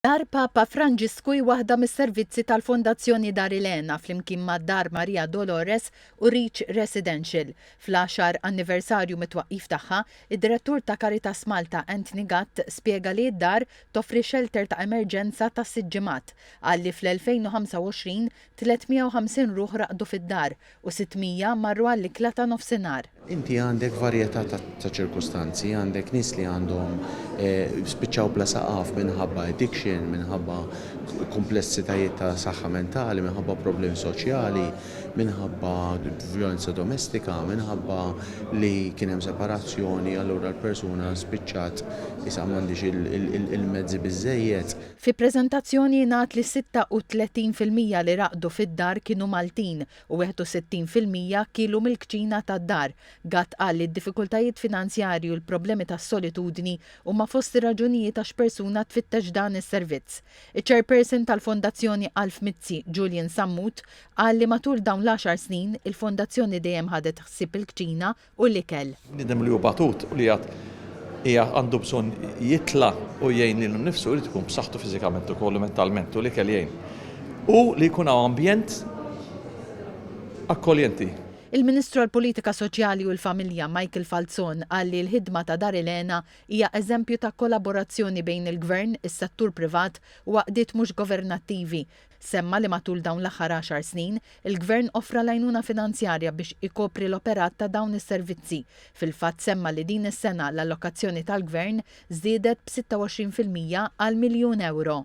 Dar Papa Franġisku hi waħda mis-servizzi tal-Fondazzjoni Dar Elena flimkien ma' Dar Maria Dolores u Reach Residential. Fl-għaxar anniversarju mit-twaqqif tagħha, id-Direttur ta' Caritas Malta Anthony Gatt spjega li d-dar toffri xelter ta' emerġenza ta' sitt ġimgħat. Qal li fl-2025 350 ruħ raqdu fid-dar u 600 marru għall-ikla ta' nofsinhar. Inti għandek varjetà ta' ċirkustanzi, għandek nies li għandhom spiċċaw bla saqaf minħabba addiction, minħabba kumplessitajiet ta' saħħa mentali, minħabba problemi soċjali, minħabba vjolenza domestika, minħabba li kien hemm separazzjoni allura l-persuna spiċċat isha m'għandhiex il-mezzi biżżejjed. Fi preżentazzjoni jingħad li 36 fil-mija li raqdu fid-dar kienu Maltin u 61 fil-mija kielu mill-kċina tad-dar. Gatt qal li d-diffikultajiet finanzjarji u l-problemi tas-solitudni huma fost ir-raġunijiet għax persuna tfittex dan is-servizz. Iċ-Chairperson tal-Fondazzjoni Alf Mizzi, Julian Sammut, qal li matul dawn l-għaxar snin, il-Fondazzjoni dejjem ħadet ħsieb il-kċina u l-ikel. Bniedem li hu batut u li għad qiegħed għandu bżonn jitla' u jgħin lilu nnifsu jrid ikun b'saħħtu fiżikament ukoll u mentalment u l-ikel jgħin. U li jkun hawn ambjent akkoljenti. Il-Ministru għall-Politika Soċjali u l-Familja, Michael Falzon qal li l-ħidma ta' Dar il-Għena hija eżempju ta' kollaborazzjoni bejn il-Gvern, is-settur privat u għaqdiet mhux governattivi Semma li matul dawn l-aħħar għaxar snin, il-Gvern offra l-għajnuna finanzjarja biex ikopri l-operat ta' dawn is-servizzi. Fil-fatt semma li din is-sena l-allokazzjoni tal-Gvern żdiedet b' 26 fil-mija għal miljun ewro.